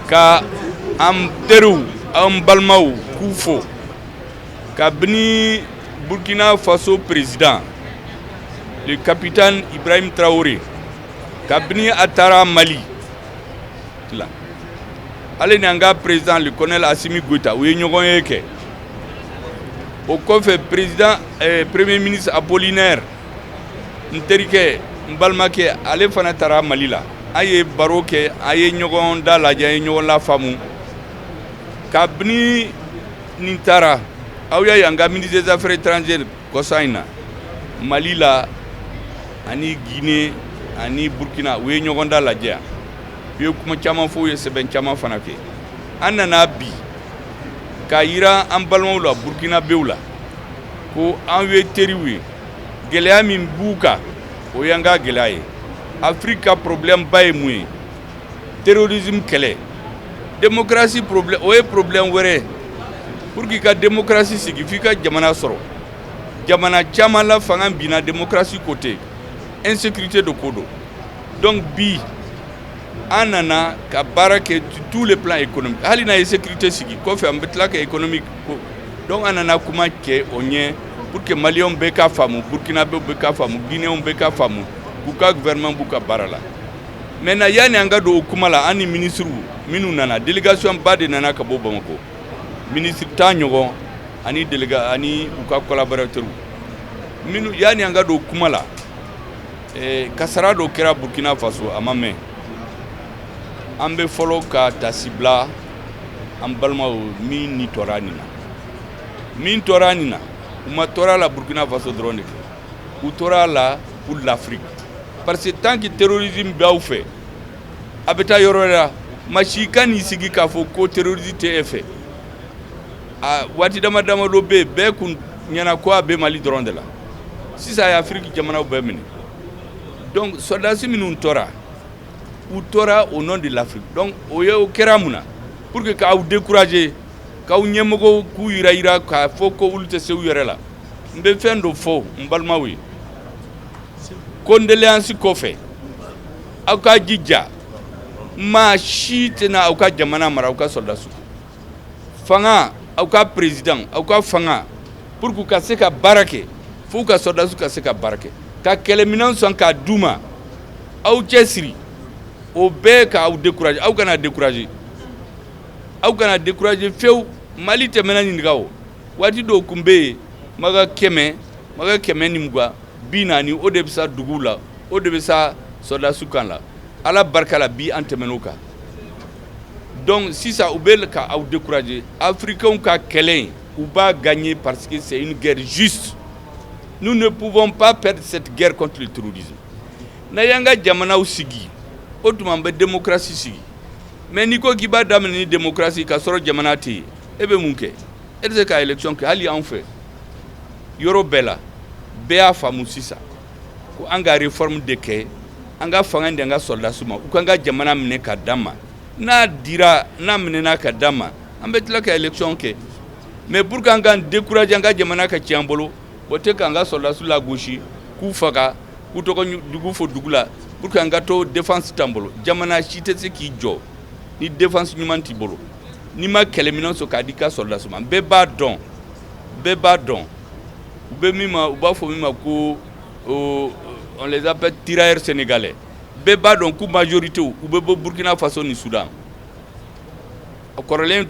ka an teriw an balimaw k'u fo kabini burkina faso président le capitaine ibrahim traoré kabini a taara mali la ale ni an ka président le colonel assimi goïta u ye ɲɔgɔn ye kɛ o kɔfɛ président eh, premier ministre apollinaire n terikɛ n balimakɛ ale fana taara mali la an ye baro kɛ an ye ɲɔgɔn dalajɛ an ye ɲɔgɔn lafaamu kabini nin taara aw y'a ye an ka ministre des affaires étrangères kɔsa in na mali la ani guinée ani burkina u ye ɲɔgɔn dalajɛ u ye kuma caman fɔ u ye sɛbɛn caman fana kɛ an nana bi k'a yira an balimaw la burkinabèw la ko an ye teriw ye gɛlɛya min b'u kan o y'an ka gɛlɛya ye afiriki ka problèmeba ye mun ye terrorisme kɛlɛ démocratie problème o ye problème wɛrɛ pour que i ka démocratie sigi fo i ka jamana sɔrɔ jamana caman la fanga binna démocratie ko tɛ insécurité de ko don donc bi an nana ka baara kɛ tout le plan économique hali n'an ye sécurité sigi kɔfɛ an bɛ tila ka économie kɛ donc an nana kuma kɛ o ɲɛ pour que malienw bɛɛ k'a faamu burkinabèw bɛɛ k'a faamu guinéenw bɛɛ k'a faamu k'u ka gouvernement b'u ka baara la maintenant yanni an ka don o kuma la an ni minisiriw minnu nana délégationba de nana ka bɔ bamakɔ minisiri tan ɲɔgɔn ani ani u ka collaborateurs mais yanni an ka don o kuma la Kasara dɔ kɛra burkina faso a ma mɛn an bɛ fɔlɔ ka taasibila an balimaw min ni tora nin na min tora nin na u ma tora a la burkina faso dɔrɔn de kɛ u tora a la pour l'afrique parce que tant que terrorisme bɛ aw fɛ a bɛ taa yɔrɔ la maa si kan'i sigi k'a fɔ ko terrorisme tɛ e fɛ A waati dama damadɔ bɛ yen bɛɛ kun ɲɛna ko a bɛ mali dɔrɔn de la sisan a ye afiriki jamanaw bɛɛ minɛ donc sɔrɔdasi minnu tora u tora au nom de l'afrique donc o ye o kɛra mun na pour que k'aw décourager k'aw ɲɛmɔgɔ k'u yirayira k'a fɔ ko olu tɛ se u yɛrɛ la n bɛ fɛn dɔ fɔ n balimaw ye condoléances kɔfɛ aw ka jija maa si tɛna aw ka jamana mara aw ka sɔrɔdasiw fanga aw ka président aw ka fanga pour que u ka se ka baara kɛ f'u ka sɔrɔdasiw ka se ka baara kɛ ka kɛlɛminɛn san k'a d'u ma aw cɛ siri o bɛɛ k'aw décourager aw kana décourager aw kana décourager fewu mali tɛmɛna ninnu kan o waati dɔw kun bɛ yen maga kɛmɛ maga kɛmɛ ni mugan bi naani o de bɛ sa duguw la o de bɛ sa sɔrɔdasiw kan la ala barika la bi an tɛmɛn'o kan dɔnku sisan u bɛ ka aw dekkurae afirikɛw ka kɛlɛ u b'a gan ɲɛ pasi sɛyi gɛrɛ zsu n'u de buban pan pɛrisɛti gɛrɛ kɔntu tuuruki n'a y'an ka jamanaw sigi o tuma an bɛ denmusosi sigi mɛ n'i ko k'i b'a daminɛ ni denmusosi ka sɔrɔ jamana tɛ yen e bɛ mun kɛ e tɛ se k'a yɛlɛc kɛ hali y anw fɛ yɔrɔ bɛɛ la bɛɛ y'a faamumu sisan ko an ka réforme de kɛ, an ka fanga di an ka sɔrɔdasiw ma u ka an ka jamana minɛ k'a d'an ma, n'a dira, n'a minɛna k'a d'an ma, an bɛ tila ka élection kɛ mais pour que an k'an décourager an ka jamana ka cɛn an bolo, o tɛ k'an ka sɔrɔdasiw lagosi, k'u faga, k'u tɔgɔ jugu fɔ dugu la pour que an ka to défense t'an bolo, jamana si tɛ se k'i jɔ ni défense ɲuman t'i bolo, n'i ma kɛlɛminɛn sɔrɔ k'a di i ka sɔrɔdasiw ma, bɛɛ b'a dɔn bɛɛ b'a dɔn u bɛ min ma u b'a fɔ min ma ko on les appelle tirailleurs sénégalais bɛɛ b'a dɔn k'u majorité u bɛ bɔ Burkina Faso ni Soudan kɔrɔlen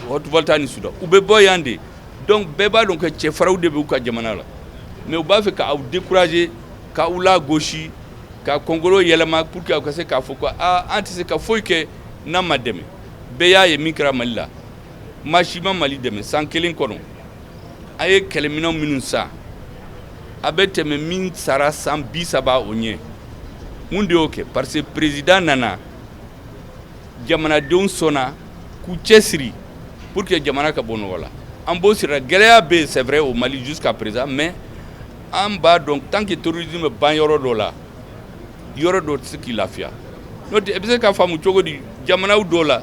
Haute-Volta ni Soudan u bɛ bɔ yan de donc bɛɛ b'a dɔn que cɛfarinw de bɛ u ka jamana la mais u b'a fɛ k'aw décourager k'aw lagosi k'aw kunkolo yɛlɛma pour que aw ka se k'a fɔ ko aa an tɛ se ka foyi kɛ n'an ma dɛmɛ bɛɛ y'a ye min kɛra Mali la maa si ma Mali dɛmɛ san kelen kɔnɔ, a ye kɛlɛminɛn minnu san, a bɛ tɛmɛ min sara san bi saba o ɲɛ. Mun de y'o kɛ? Parce que président nana, jamanadenw sɔnna k'u cɛsiri pour que jamana ka bɔ nɔgɔ la. An b'o sira, gɛlɛya bɛ yen c'est vrai au Mali jusqu'à présent mais an b'a dɔn tant que terrorisme b'an yɔrɔ dɔ la, yɔrɔ dɔ tɛ se k'i lafiya. N'o tɛ, e bɛ se k'a faamu cogo di jamana dɔw la